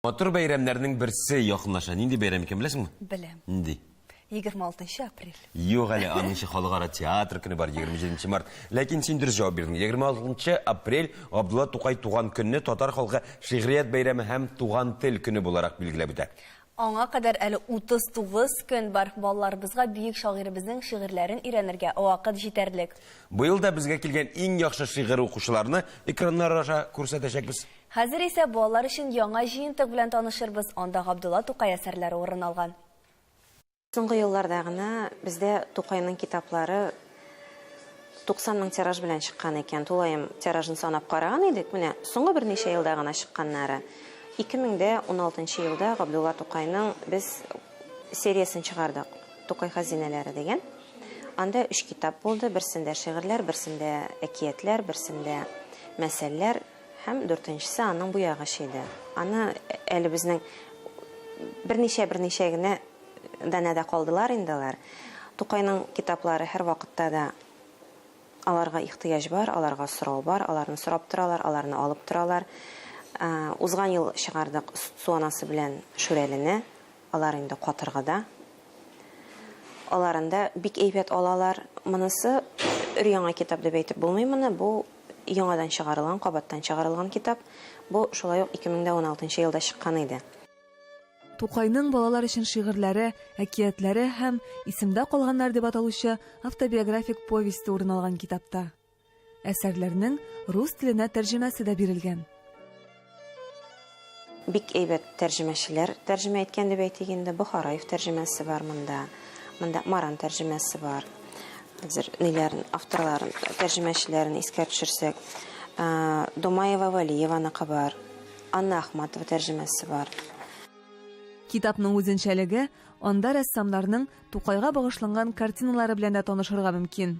Матур бәйрәмнәрнең берсе якынлаша. Нинди бәйрәм икән беләсеңме? Беләм. Нинди? 26 апрель. Юк әле, аның өчен халыкара театр көне бар, 27 март. Ләкин син дөрес җавап бирдең. 26 апрель Габдулла Тукай туган көнне татар халкы шигърият бәйрәме һәм туган тел көне буларак билгеләп үтә. Аңа кадәр әле 39 көн бар. Балаларыбызга бөек шагыйребезнең шигырьләрен өйрәнергә вакыт җитәрлек. Быел да безгә килгән иң яхшы шигырь укучыларны экраннар аша күрсәтәчәкбез. Хәзер исә балалар өчен яңа җыентык белән танышырбыз, анда Габдулла Тукай әсәрләре урын алган. Соңгы елларда гына бездә Тукайның китаплары 90 мең тираж белән чыккан икән. Тулаем тиражын санап караган идек, менә соңгы берничә елда гына чыкканнары. 2016 нчы елда Габдулла Тукайның без сериясен чыгардык, Тукай хәзинәләре дигән. Анда өч китап булды, берсендә шигырьләр, берсендә әкиятләр, берсендә мәсәлләр. Һәм дүртенчесе аның буягыч иде. Аны әле безнең берничә-берничә генә данәдә калдылар инде алар. Тукайның китаплары һәрвакытта да аларга ихтыяҗ бар, аларга сорау бар, аларны сорап торалар, аларны алып торалар. Узган ел чыгардык Су анасы белән Шүрәлене. Алар инде катыргыда. Аларын да бик әйбәт алалар. Монысы өр-яңа китап дип әйтеп булмый моны. Бу яңадан чыгарылган, кабаттан чыгарылган китап. Бу шулай ук 2016 елда чыккан иде. Тукайның балалар өчен шигырьләре, әкиятләре һәм Исемдә калганнар дип аталучы автобиографик повесте урын алган китапта. Әсәрләрнең рус теленә тәрҗемәсе дә бирелгән. Бик әйбәт тәрҗемәчеләр тәрҗемә иткән дип әйтик инде. Бохараев тәрҗемәсе бар монда. Монда Маран тәрҗемәсе бар. Хәзер ниләрен, авторларын, тәрҗемәчеләрен искә төшерсәк, Домаева Валиеваныкы бар, Анна Ахматова тәрҗемәсе бар. Китапның үзенчәлеге, анда рәссамнарның Тукайга багышланган картиналары белән дә танышырга мөмкин.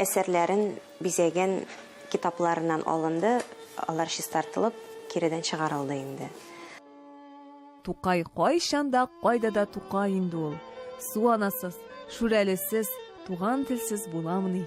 Әсәрләрен бизәгән китапларыннан алынды, алар чистартылып, киредән чыгарылды инде. Тукай кайчан да, кайда да Тукай инде ул. Су анасыз, Шүрәлесез, туган телсез буламыни?